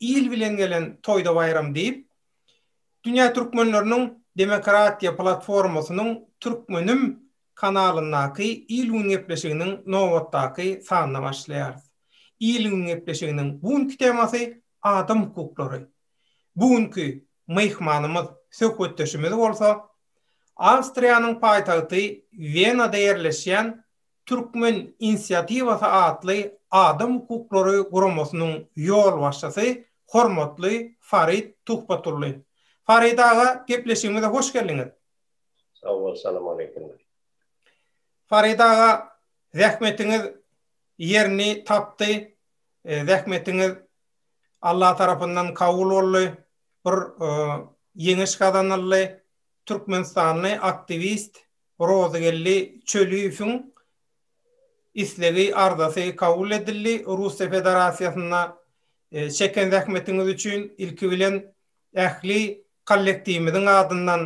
Il bilen gelen toýda baýram diýip, Dünýä türkmenleriniň demokratiýa platformasynyň Türkmenim kanalyndaky Il gün gepleşiginiň nobatdaky sanyna başlaýarys. Il gün gepleşiginiň bu günki temasy adam hukuklary. Bu günki myhmanymyz, söhbetdeşimiz bolsa Awstriýanyň paýtagty Wenada ýerleşýän Türkmen inisiatiwasy atly adam hukuklary guramasynyň ýolbaşçysy hormatly Farid Tuhbatullin. Farid aga, gepleşigimize hoş geldiňiz! Sag bol, salam aleýkum. Farid aga, zähmetiňiz ýerini tapdy, zähmetiňiz Alla tarapyndan kabul boldy, bir ýeňiş gazanyldy, türkmenistanly aktiwist Rozygeldi Çöliýewiň islegi, arzasy kabul edildi. Russiýa Federasiýasynda çeken zähmetiňiz üçin ilki bilen ähli kollektiwimiziň adyndan,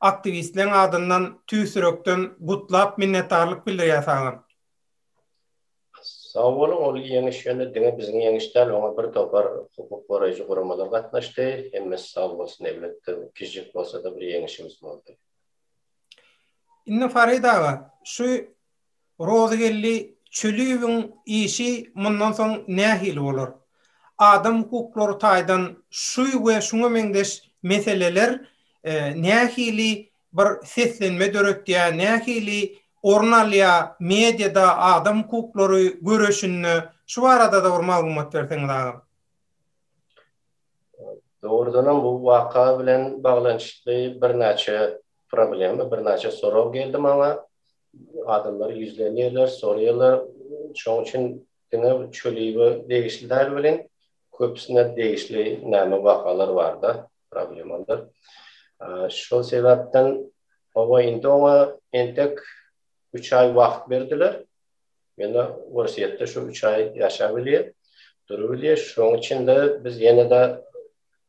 aktiwistleriň adyndan tüýs ýürekden gutlap, minnetdarlyk bildirýär saňa. Sag boluň, ol ýeňiş ýöne diňe biziň ýeňiş däl, oňa bir topar hukuk goraýjy guramalar gatnaşdy. Hemmesi sag bolsun, elbetde kiçijik bolsa-da bir ýeňişimiz boldy. Indi Farid aga, şu Rozygeldi Çöliýewiň işi mundan soň nähili bolar? Adam hukuklary taýdan şu we şuňa meňzeş meseleler nähili bir seslenme döretýär, nähili orun alýar mediada, adam hukuklary göreşinde? Şu barada-da bir maglumat berseňiz agam. Dogrudanam bu waka bilen baglanyşykly birnäçe problema, birnäçe sorag geldi maňa. Adamlar ýüzlenýärler, soraýarlar. Şonuň üçin diňe Çöliýewe degişli däl welin, köpüsine degişli näme wakalar bar-da, problemalar. Şol sebäpden, hawa, indi oňa entek üç aý wagt berdiler. Ýöne Orsýetde şu üç aý ýaşap bilýär, durup bilýär. Şonuň üçin-de biz ýene-de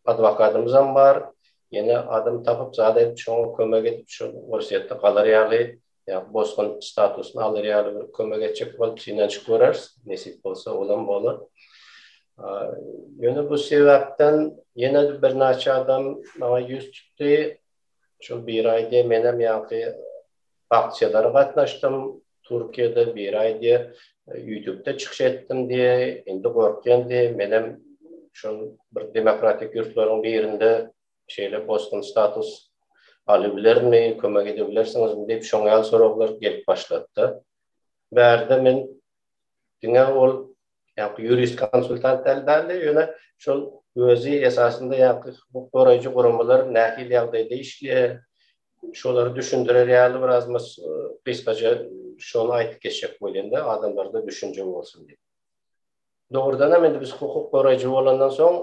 adwokatymyzam bar, ýene adam tapyp, zat edip, şoňa kömek edip, şol Orsýetde galar ýaly, ýa bosgun statusyny alar ýaly bir kömek etjek bolup synanyşyp göreris. Nesip bolsa, olam bolar. Ýöne bu sebäpden ýene-de birnäçe adam maňa ýüz tutdy. Şol bir aýda menem ýaňky aksiýalara gatnaşdym. Türkiýede bir aý diýe ýütükde çykyş etdim diýe, indi gorkýan diýe, menem şol bir demokratik ýurtlaryň birinde şeýle bosgun status alybilermi, kömek edebilersiňizmi diýip şoňa ýaly soraglar gelip başlady-da. Bärde men diňe ol Ýa-da ýurist konsultant däl däldi, ýöne şol özi esasynda ýa-da hukuk goraýjy guramalar nähili ýagdaýda işleýär, şolary düşündirer ýaly bir az mas gysgaça şony aýdyp geçjek bolýan-da, adamlarda düşünje bolsun diýip. Dogrudan hem indi biz hukuk goraýjy bolandan soň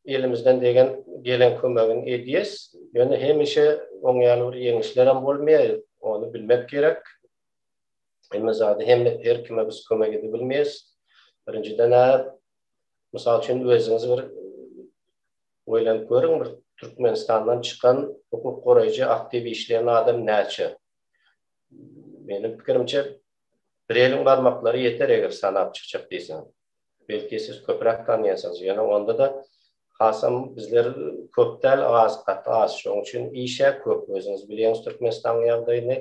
elimizden degen gelen kömegini edýäs, ýöne hemişe oň ýaly bir ýeňişler hem bolmaýar, ony bilmek gerek. Hemme zady hem her kime biz kömek edip bilmeýäs. Birinjiden a mysal üçin özüňiz bir oýlanyp görüň bir Türkmenistandan çykan hukuk goraýjy aktiw işleýän adam näçe? Meniň pikirimçe bir eliň barmaklary ýeter eger sanap çykjak diýseň. Belki siz köpräk tanýansyňyz ýöne onda da hasam bizler köp däl az gaty az şoň üçin işe köp özüňiz bilýäňiz Türkmenistanyň ýagdaýyny.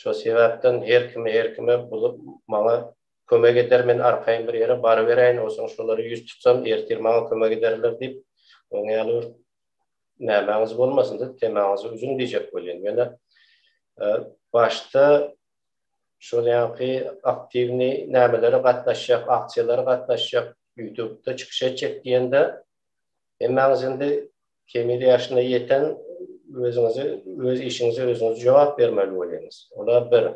Şo sebäpden her kimi her kime buzup maňa kömek eder men arkaýyn bir ýere baryberäýin onsoň şolara ýüz tutsam ertir maňa kömek ederler diýip oň ýaly bir nämäňiz bolmasyn diýip temaňyzy üzüň diýjek bolýan ýöne başda şol ýaňky aktiwni nämelere gatnaşjak aksiýalara gatnaşjak ýutubda çykyş etjek diýende hemmäňiz indi Kemil ýaşyna ýeten özüňizi, öz işiňize özüňiz jogap bermeli bolýaňyz. Ola bir.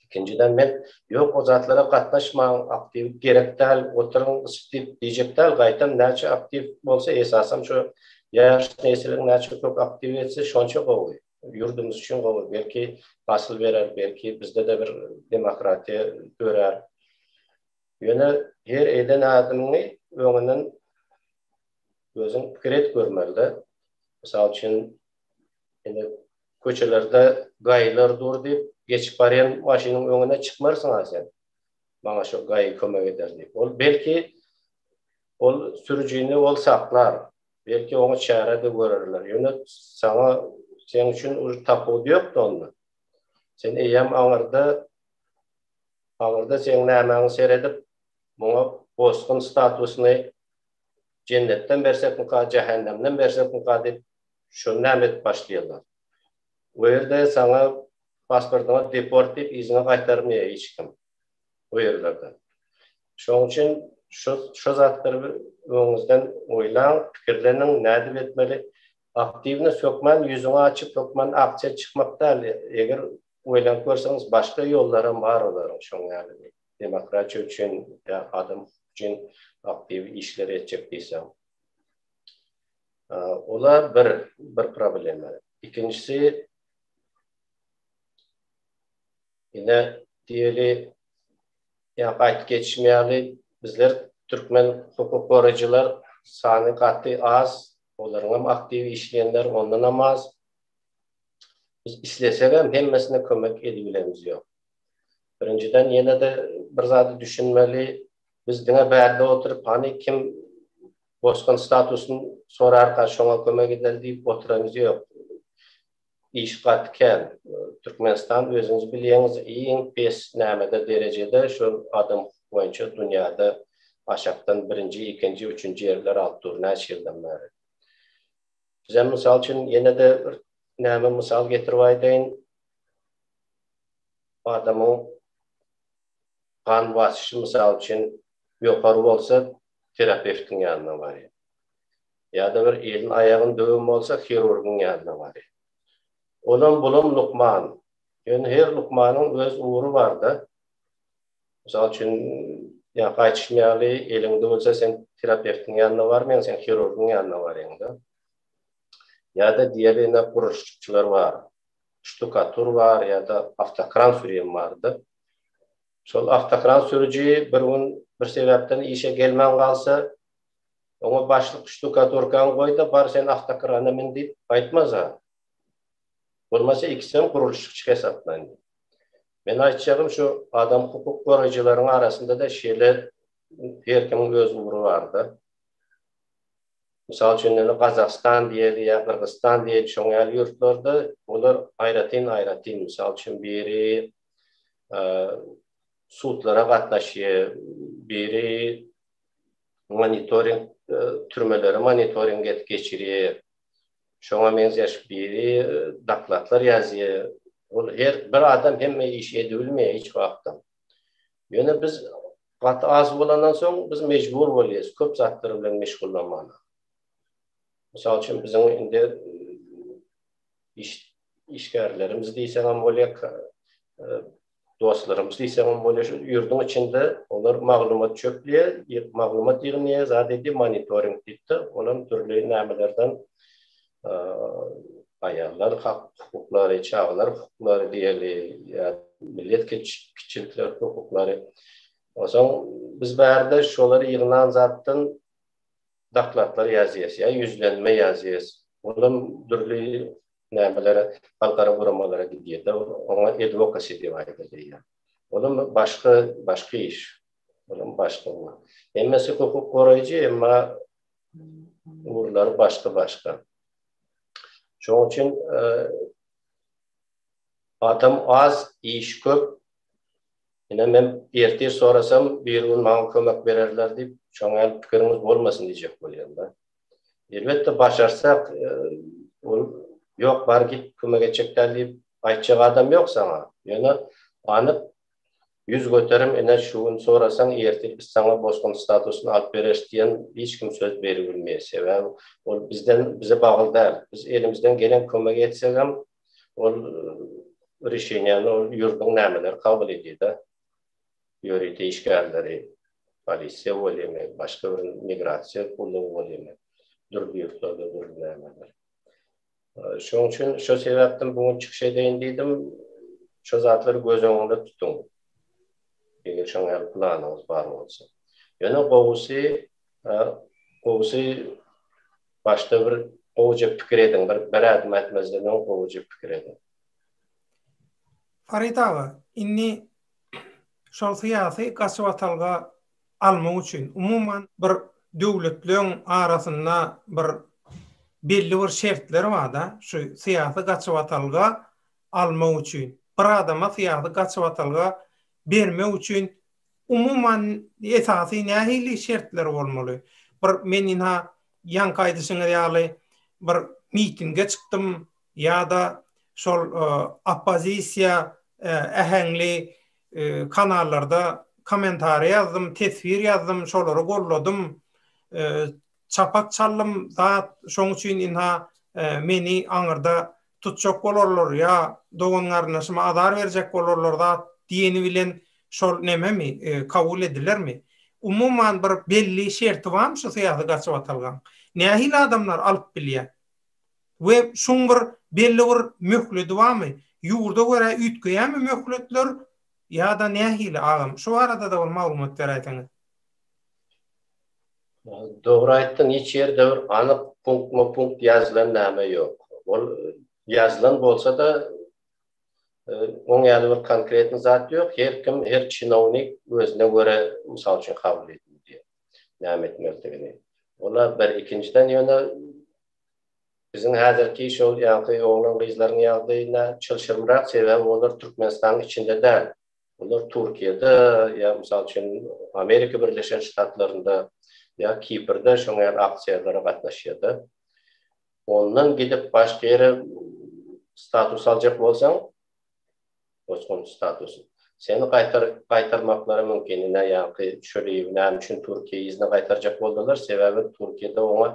Ikinjiden men ýok o zatlara gatnaşmaň, aktiw gerek däl, oturyň ysyp diýip diýjek däl, gaýtam näçe aktiw bolsa esasam şu ýaş nesliň näçe köp aktiw etse şonça gowy. Ýurdumyz üçin gowy. Belki hasyl berer, belki bizde-de bir demokratiýa dörär. Ýöne her eden adymyňy öňünden özüň pikir et görmeli-de. Mysal üçin, indi köçelerde gaýylar dur diýip, geçip barýan maşynyň öňüne çykmarsyň-a sen, Maňa şu gaýy kömek eder diýip. Ol, belki, ol sürüjini ol saklar, belki, oňa çäre-de görerler. Ýöne saňa, seň üçin uly tapawudy ýok-da onda. Sen eýýäm aňyrda, aňyrda seň nämäňi seredip, muňa bosgun statusyny Jennetden bersekmika, jähennemden bersekmika diýip, şony näme edip başlaýarlar. O ýerde saňa pasportyňy deport diýip, yzyňa gaýtarmaýar hiç kim o ýerlerde. Şonuň üçin şu şu zatlary bir öňüňizden oýlaň, pikirleniň, nädip etmeli. Aktiwnyý hökman ýüzüňi açyp, hökman aksiýa çykmak däl, eger oýlanyp görseňiz, başga ýollary hem bar olaryň şoň ýaly diýip. demokratiýa üçin ýa adam hukugy üçin aktiw işler etjek diýseň. Ola bir bir problema. Ikinjisi ine diýeli ýa gaýt geçmeýäli bizler türkmen hukuk goraýjylar sany gaty az, olaryň hem aktiw işleýänler ondan hem az. Biz islesek hem hemmesine kömek edibilemiz ýok. Birinjiden ýene-de bir zada düşünmeli, biz diňe bärde oturyp hany kim bosgun statusyny sorarka şoňa kömek edeli diýip oturanymyz ýok. Iş gaty kän. Türkmenistan özüňiz bilýäňiz iň pes nämede derejede şol adam hukuk boýunça dünýäde aşakdan birinji, ikinji, üçünji ýerler alyp dur näçe ýyldan bäri. Bizem mysal üçin ýene-de bir näme mysal getirip aýdaýyn. adamyň gan basyşy mysal üçin ýokary bolsa terapewtiň ýanyna barýar. Ýa-da bir elin aýagyn döwen bolsa hirurgyň ýanyna barýar. Olam bulam lukman. Ýöne her lukmanyň öz ugry barda. Mysal üçin ýaňky aýtyşym ýaly eliň döwülse sen terapewtiň ýanyna barmaýaň sen hirurgyň ýanyna barýaňda. Ýa-da diýeli ine gurluşykçylar bar. ştukatur bar ýa-da awtokran sürýän bardy. Şol awtokran sürüji bir gün bir sebäpden işe gelmän galsa, oňa başlyk ştukaturkaňy goý-da, bar sen awtokrana min diýip aýtmasa, bolmasa ikisi hem gurluşykçy hesaplaýyn. Meniň aýtjagym şu adam hukuk goraýjylaryň arasynda-da şeýle her kimiň öz ugry bar-da. Mysal üçin, indi Gazagystan diýeli ýa Gyrgyzystan diýeli, şoň ýaly ýurtlarda olar aýratyn-aýratyn, mysal üçin, biri sudlara gatnaşýar, biri monitoring, türmeleri monitoring edip geçirýär, şoňa meňzeş, biri dokladlar ýazýar. Ol her bir adam hemme işi edibilmeýär hiç wagtam. Ýöne biz gaty az bolandan soň biz mejbur bolýas köp zatlar bilen meşgullanmaga. Mysal üçin biziň indi iş işgärlerimiz diýseň hem bolýar, dostlarymyz diýseň hem bolýar, şu ýurduň içinde olar maglumat çöplýär, maglumat ýygnaýar, zat edýär, monitoring diýip-de, olam dürli nämelerden aýallar hak hukuklary, çagalar hukuklary diýeli ýa millet kiçilikler hukuklary. Onsoň biz bärde şolary ýygnan zatdan dokladlar ýazýas ýa ýüzlenme ýazýas. Olam dürli nämelere halkara guramalara gidýär-de, oňa edwokasi diýip aýdylýar. Olam başga, başga iş. Olam başga. Hemmesi hukuk goraýjy, emma ugurlary başga-başga. Şonuň üçin adam az, iş köp. Ine men ertir sorasam, birigün maňa kömek bererler diýip, şoňa ýaly pikiriňiz bolmasyn diýjek bolýan-da. Elbetde başarsak, ol ýok bar git kömek etjek däl diýip aýtjak adam ýok saňa. Ýöne anyk Ýüz göterim ine şu gün sorasaň ertir biz saňa bosgun statusyny alyp bereris diýen hiç kim söz beribilmeýär sebäbi ol bizden bize bagly däl biz elimizden gelen kömegi etsegem ol rişeniýäni ol ýurduň nämeleri kabul edýärda ýörite işgärleri polisiýa welimi başga bir migrasiýa gullugy welimi dürli ýurtlarda dürli nämeler. Şonuň üçin şo sebäpden bu gün çykyş edeýin diýdim. Şo zatlary göz öňünde tutuň. Eger şoňa ýaly planyňyz bar bolsa. Ýöne gowusy, gowusy başda bir gowuja pikir ediň, bir bir ädim ätmezden öň gowuja pikir ediň. Farid aga, indi şol syýasy gaçybatalga almak üçin umuman bir döwletleriň arasynda bir belli bir şertler barda şu syýasy gaçybatalga almak üçin bir adama syýasy gaçybatalga bermek üçin umuman esasy nähili şertler bolmaly bir men ina ýaňky aýdyşyňyz ýaly bir mitinge çykdym ýa-da şol oppozisiýa äheňli kanallarda kommentariýa ýazdym, teswir ýazdym, şolary golladym, çapak çaldym zat, şoň üçin ynha meni aňyrda tutjak bolarlar ýa dogan-garyndaşyma azar berjek bolarlar zat diýeni bilen şol nememi, kabul edilermi? Umuman bir belli şerti barmy şu syýasy gaçybatalgaň? Nähili adamlar alyp bilýär? We şuň bir belli bir möhledi barmy? Ýurda görä üýtgeýärmi möhletler ýa-da nähili agam? Şu barada-da bir maglumat beräýseňiz. Dogry aýtdyň hiç ýerde bir anyk punktma punkt ýazylan name ýok. Ol ýazylan bolsada oň ýaly bir konkretny zat ýok. Her kim her çinownik özüne görä mysal üçin kabul edilýär näme etmelidigini. Ola bir ikinjiden ýöne Biziň häzirki şol ýaňky oglan-gyzlaryň ýagdaýyna çylşyrymrak sebäbi olar Türkmenistanyň içinde däl. Olar Türkiýede ýa mysal üçin Amerika Birleşen Ştatlarynda ýa Kiprde şoňa ýaly aksiýalara gatnaşýarda. Ondan gidip başga ýere status aljak bolsaň Bosgunçy statusy. Seni gaýtarmaklary mümkin. Ine, ýaňky Şöliýew näme üçin Türkiýä yzyna gaýtarjak boldular? Sebäbi Türkiýede oňa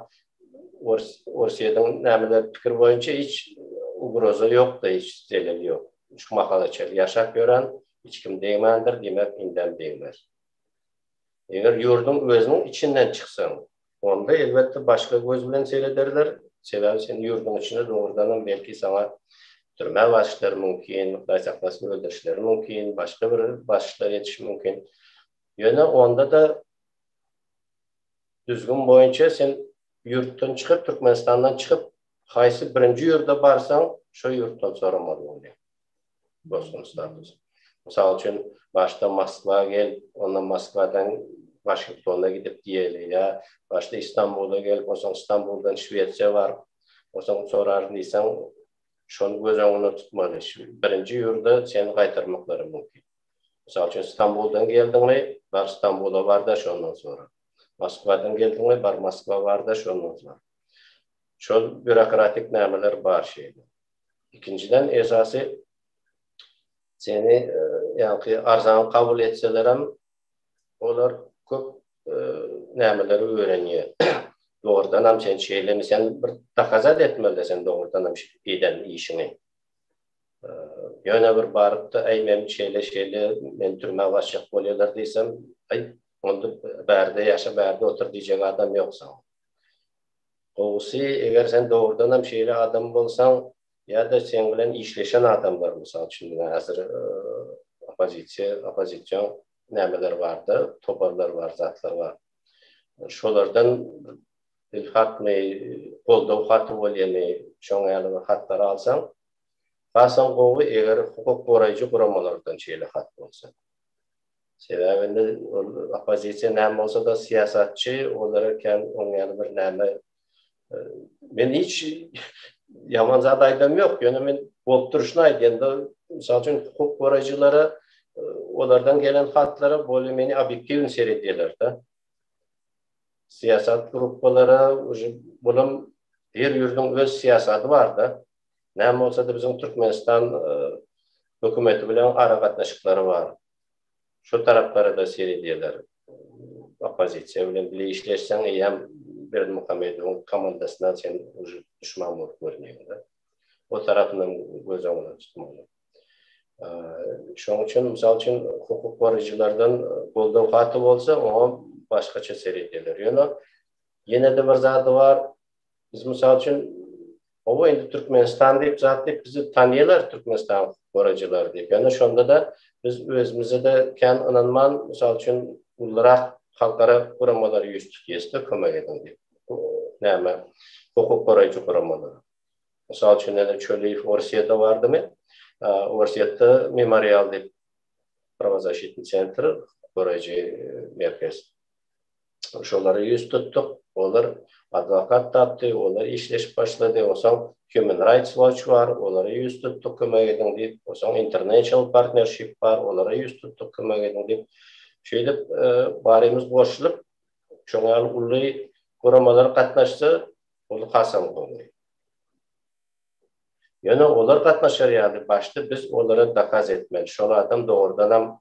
Orsýetiň nämeler pikir boýunça hiç ugroza ýok-da, hiç zelel ýok. Şu mahala çenli ýaşap ýören, hiç kim degmändir, diýmek, indem degmez. Eger ýurduň özüniň içinden çyksaň, onda elbetde başga göz bilen serederler, sebäbi sen ýurduň içinde dogrudanam belki saňa türmä basişleri mümkin, Hudaý saklasyn öldürişleri mümkin, başga bir basişler edişi mümkin. Ýöne onda-da düzgün boýunça sen ýurtdan çykyp, Türkmenistandan çykyp, haýsy birinji ýurda barsaň, şo ýurtdan soramaly bolýar. bosgun statusy. Mysal üçin, başda Moskwa gel, ondan Moskwadan Waşingtona gidip diýeli ýa başda Istanbula gelip, onsoň Istanbuldan Şwesiýa baryp, onsoň soraryn diýseň, şony göz öňünde tutmaly. Birinji ýurda seni gaýtarmaklary mümkin. Mysal üçin, Istanbuldan geldiňmi, bar Istanbula bar-da, şondan sora. Moskwadan geldiňmi, bar Moskwa bar-da, şondan sora. Şol býurokratik nämeler bar şeýle. Ikinjiden esasy seni ýaňky arzany kabul etselerem olar köp nämeleri öwrenýär. Dogrudan hem sen şeýlemi sen bir dokazat etmeli sen dogrudan hem eden işiňi. Ýöne bir barypda aý men şeýle şeýle men türmä başjak bolýarlar diýsem aý onda bärde ýaşa bärde otur diýjek adam ýok saňa. Gowusy, eger sen dogrudanam şeýle adam bolsaň, ýa-da seň bilen işleşen adamlar, mysal üçin, diňe häzir oppozisiýa, oppozision nämeler bar-da, toparlar bar, zatlar bar. Şolardan bir hatmy, goldaw haty bolýamy, şoň ýaly bir hatlary alsaň, hasam gowy, eger hukuk goraýjy guramalardan şeýle hat bolsa. Sebäbi indi ol oppozisiýa näme bolsa-da syýasatçy, olara kän oň ýaly bir näme Men hiç ýaman zat aýdam ýok, ýöne men bolup durşuny aýdýan-da, mysal üçin hukuk goraýjylara olardan gelen hatlara bolýa meni obýektiwny seredýärler-de. Syýasat gruppalara uji bolam her ýurduň öz syýasaty bar-da. Näme bolsada biziň Türkmenistan hökümeti bilen aragatnaşyklary bar. Şo taraplara-da seredýärler. Oppozisiýa bilen bile işleşseň eýýäm Berdimuhamedowyň komandasyna sen uje duşman bolup görünýäňdä. O tarapynam göz öňünde tutmaly. Şonuň üçin, mysal üçin, hukuk goraýjylardan goldaw haty bolsa, oňa başgaça seredýärler. Ýöne ýene-de bir zady bar, Biz mysal üçin Oba indi Türkmenistan diýip zat diýip bizi tanýarlar Türkmenistan gorajylary diýip. Ýöne şonda da biz özümize de kän ynanman, mysal üçin ulurak halkara guramalary ýüz tutýasda kömek ediň diýip. Näme? Hukuk goraýjy guramalary. Mysal üçin ene Çöliýew Orsýetde bardymy? Orsýetde memorial diýip Prowazasitni sentr goraýjy merkez. şolara ýüz tutduk. Olar adwokat tapdy, olar işleşip başlady. Onsoň Human Rights Watch bar, olara ýüz tutduk, kömek ediň diýip. Onsoň International Partnership bar, olara ýüz tutduk, kömek ediň diýip. Şeýdip, barymyz goşulyp, şoň ýaly uly guramalar gatnaşsa, ol hasam gowy. Ýöne olar gatnaşar ýaly, başda biz olara dokaz etmeli, şol adam dogrudanam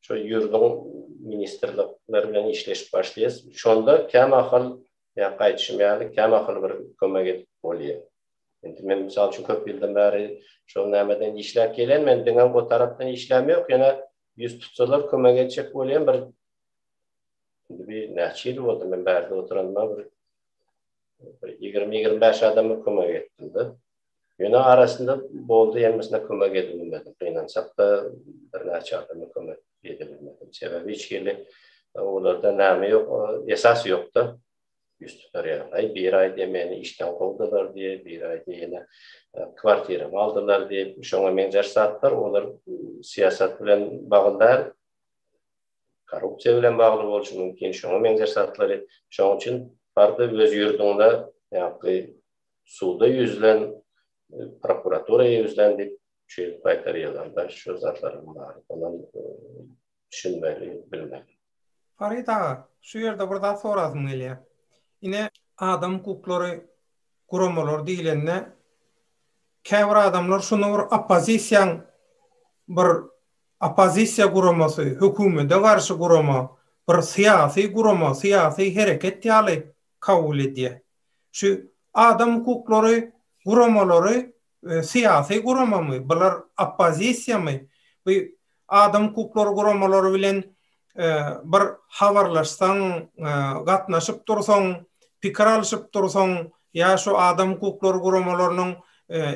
şu ýürdüň ministrlikleri bilen işleşip başlaýas. Şonda kämahal ýa gaýdyşym ýaly kämahal bir kömek edip bolýa. Indi men mysal üçin köp ýyldan bäri şol nämeden işläp gelýän, men diňe o tarapdan işläm ýok, ýöne ýüz tutsalar kömek etjek bolýan bir indi bir näçe ýyl boldy men bärde oturanyma bir ýigrimi-ýigrimi bäş adama kömek etdim-de. Ýöne arasynda boldy, hemmesine kömek edip bilmedik. Gynansak-da, birnäçe adama kömek edip bilmedik. Sebäbi hiç hili olarda näme ýok, esas ýok-da. Ýüz tutar ýaly. Aý, biri aýdýar, meni işden kowdular diýip, biri aýdýar, ýene kwartiramy aldylar diýip, şoňa meňzeş zatlar, olar syýasat bilen bagly däl, korrupsiýa bilen bagly bolşy mümkin, şoňa meňzeş zatlary. Şonuň üçin bardy öz ýurduňda ýa-da suda ýüzlen, prokuratura ýüzlen diýip çüýrip gaýtar ýazanda şu zatlaryň bary onam düşünmeli, bilmeli. Farid aga, şu ýerde bir zat sorasym gelýär. Ine, adam hukuklary guramalary diýlende, käbir adamlar şuny bir oppozisiýaň bir oppozisiýa guramasy, hökümede garşy gurama, bir syýasy gurama, syýasy hereket ýaly kabul edýär. Şu adam hukuklary guramalary syýasy guramamy, bular oppozisiýamy, bu adam hukuklary guramalary bilen bir habarlaşsaň, gatnaşyp dursaň, pikir alşyp dursaň ýa şu adam hukuklary guramalarynyň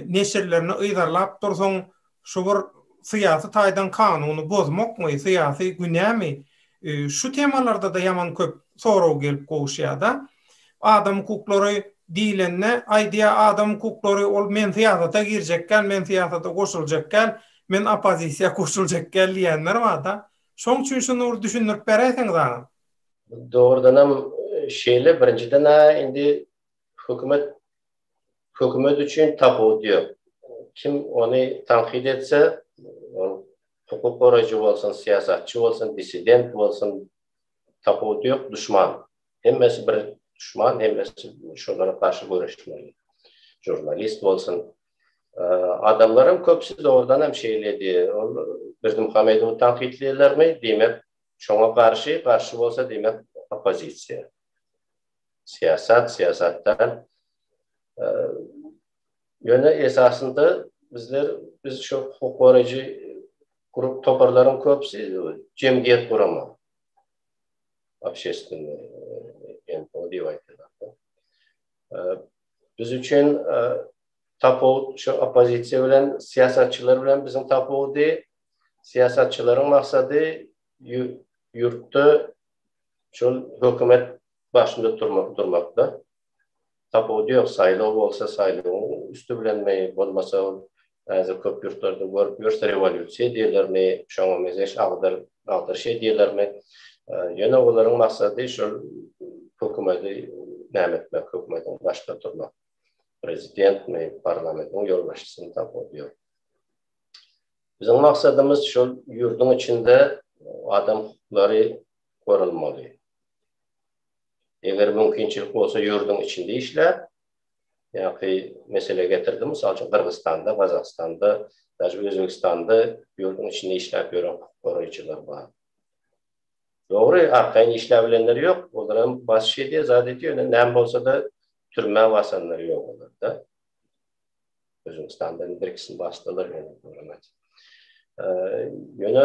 neşirlerini yzarlap dursaň, Şu bir syýasy taýdan kanuny bozmakmy, syýasy günämi, şu temalarda-da ýaman köp sorag gelip gowuşýar-da. Adam hukuklary diýlende, aýdýar, adam hukuklary, ol men syýasata girjek däl, men syýasata goşuljak däl, men oppozisiýa goşuljak däl diýýänler bar-da. Şoň üçin şuny bir düşündirip beräýseňiz agam. Dogrudanam şeýle, birinjiden-ä indi hökümet Hökümet üçin tapawudy ýok. Kim ony tankyt etse, ol hukuk goraýjy bolsun, syýasatçy bolsun, dissident bolsun, tapawudy ýok, duşman. Hemmesi bir duşman, hemmesi şolara garşy göreşmeli. Žurnalist bolsun. Adamlaryň köpüsi dogrudan hem şeýledi. Ol Berdimuhamedowy tankytlaýarlarmy, diýmek, şoňa garşy, garşy bolsa, diýmek, oppozisiýa. syýasat, syýasatdan. Ýöne esasynda bizler biz şu hukuk goraýjy grup toparlaryň köpüsi jemgyýet guramak. Obşestweniýe NPO diýip aýdýarlar. Biz üçin tapawut şu oppozisiýa bilen syýasatçylar bilen biziň tapawudy syýasatçylaryň maksady ýurtda Şol hökümet başynda turmak durmakda tapawudy ýok. Saýlaw bolsa saýlawyň üsti bilenmi, bolmasa ol häzir köp ýurtlarda görüp ýörüs rewolýusiýa diýerlermi, şoňa mezeş agdyr agdyryş edýärlermi. Ýöne olaryň maksady şol hökümeti näme etmek, hökümetiň başda turmak. Prezidentmi, parlamentiň ýolbaşçysymy tapawudy ýok. Biziň maksadymyz şol ýurduň içinde adam hukuklary goralmaly. Eger mümkinçilik bolsa ýurduň içinde işläp, ýaňky mesele getirdim, mysal üçin Gyrgyzystanda, Gazagystanda, daşy Özbegistanda ýurduň içinde işläp ýören hukuk goraýjylar bar. Dogry, arkaýyn işläp bilenler ýok, olar hem basyş edýär, zat edýär, ýöne näme bolsa-da türmä basanlar ýok olarda. Özbegistanda bir ikisini basdylar ýöne. Ýöne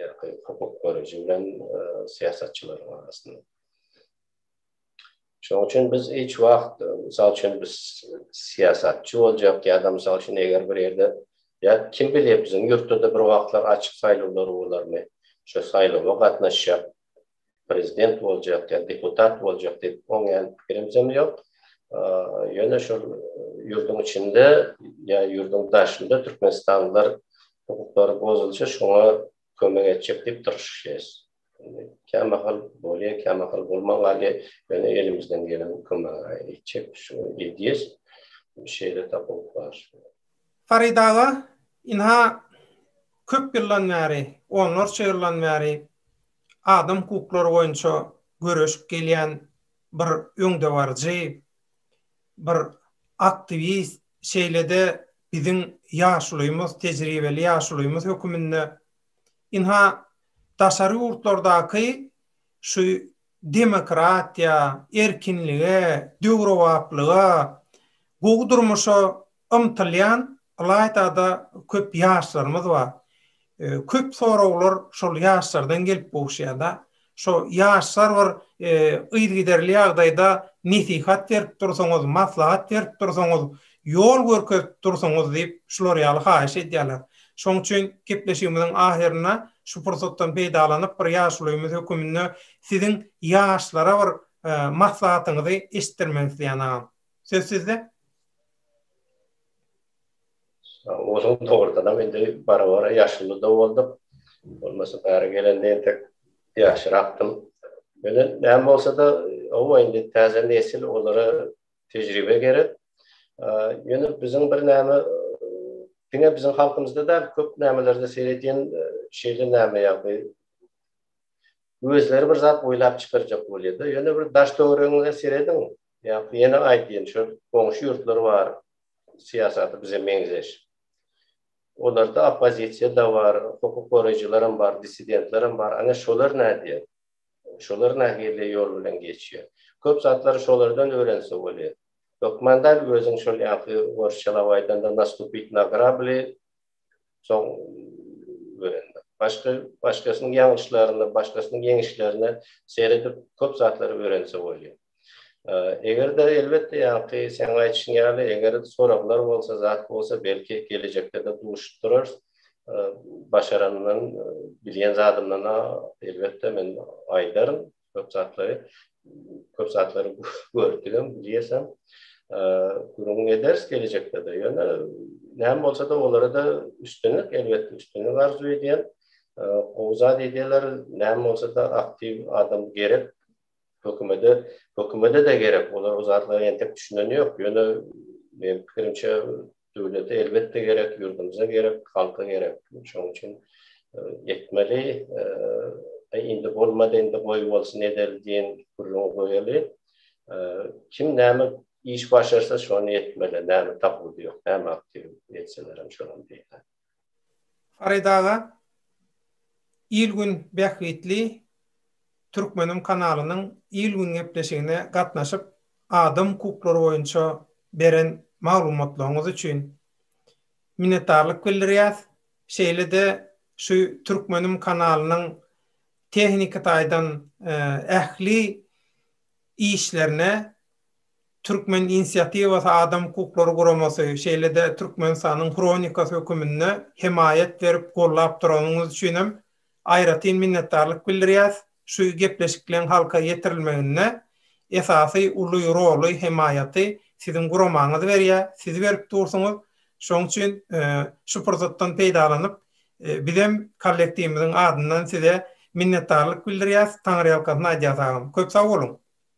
ýa-da hukuk görüji bilen syýasatçylaryň arasynda. Şonuň üçin biz hiç wagt, mysal üçin, biz syýasatçy boljak ýa-da, mysal üçin, eger bir ýerde, ýa kim bilýär, biziň ýurtda-da bir wagtlar açyk saýlawlar bolarmy, şo saýlawa gatnaşjak prezident boljak ýa deputat boljak diýip oňýan pikirimizem ýok. Ýöne şol ýurduň içinde ýa ýurduň daşynda türkmenistanlylar hukuklary bozulsa şoňa kömek etjek diýip tyrşyşýas. Kä mahal bolýa, kä mahal bolman galýa, ýöne elimizden gelen kömegi etjek şu edýäs. Şeýle tapawut bar. Farid aga, ynha köp ýyldan bäri, onlarça ýyldan bäri adam hukuklary boýunça göreşip gelýän bir öňdebaryjy, bir aktiwist, şeýle-de biziň ýaşulymyz, tejribeli ýaşulymyz höküminde ynha daşary ýurtlardaky şu demokratiýa, erkinlige, döwrebaplyga, gowy durmuşa Ymtylýan ylaýta-da köp ýaşlarymyz bar. Köp soraglar şol ýaşlardan gelip gowuşýar-da. Şo ýaşlar bir yzygiderli ýagdaýda nesihat berip dursaňyz, maslahat berip dursaňyz, ýol görkezip dursaňyz diýip, şular ýaly haýyş edýärler. Şonuň üçin gepleşigimiziň ahyrynda şu pursatdan peýdalanyp, bir ýaşulymyz höküminde siziň ýaşlara bir maslahatyňyzy eşitdirmek isleýän agam. Söz sizde. Onuň dogrudanam indi bara-bara ýaşuly-da bolduk. Bolmasa bäri gelende entek ýaşrakdym. Ýöne näme bolsa-da, hawa, indi täze nesil, olara tejribe gerek. Ýöne biziň bir näme, diňe biziň halkymyzda däl, köp nämelerde seredýän şeýle näme ýagdaý. Özleri bir zat oýlap çykarjak bolýar-da. Ýöne bir daş-töweregiňize serediň, Ýa-da ýene aýtyn, şu goňşy ýurtlar bar, syýasaty bize meňzeş. Olarda oppozisiýa-da bar, hukuk goraýjylaram bar, dissidentlerem bar. Ana, şolar nädýär? Şolar nähili ýol bilen geçýär? Köp zatlary şolardan öwrense bolýar. Hökman däl, özüň şol ýaňky orsçalap aýdanda nastupit na grabli, Soň öwrendim. Başga başgasynyň ýalňyşlaryna, başgasynyň ýeňişlerine seredip köp zatlary öwrense bolýar. Eger-de elbetde ýaňky seň aýdyşyň ýaly eger soraglar bolsa, zat bolsa belki gelejekde-de duşup durarys. Başarandan, bilýän zadymdan elbetde men aýdaryn. köp zatlary, köp zatlary gördügem, bilýäsem. Gürrüň ederis gelejekde-de. Ýöne näme bolsa-da olara-da üstünlik, elbetde üstünlik arzuw edýän. Gowy zat edýärler, näme bolsa-da aktiw adam gerek. Hökümete, hökümete-de gerek. Olar o zatlara entek düşüneni ýok. Ýöne, meniň pikirimçe, Döwlete elbetde gerek, ýurdumyza gerek, halka gerek. Şonuň üçin etmeli. Indi bolmady, indi goý bolsun edeli diýen gürrüňi goýaly. Kim näme iş başarsa şony etmeli. Näme tapyldy ýok, näme aktiw etselerem şonuň diýýän. Farid aga il gün bähbitli Türkmenim kanalynyň il gün gepleşigine gatnaşyp adam hukuklary boýunça beren maglumatlaryňyz üçin minnetdarlyk bildirýäs şeýlede şu Türkmenim kanalynyň tehniki taýdan ähli işlerine Türkmen inisiatiwasy adam hukuklary guramasy, şeýle-de Türkmenistanyň Hronikasy höküminde hemaýat berip gollap duranyňyz üçinem aýratyn minnetdarlyk bildirýäs, şu gepleşikleň halka ýetirilmeginde esasy uly roly, hemaýaty siziň guramaňyz berýär, siz berip dursuňyz, şoň üçin şu pursatdan peýdalanyp bizem kollektiwimiziň adyndan size minnetdarlyk bildirýäs, taňryýalkasyn aýdýas agam. Köp sag boluň!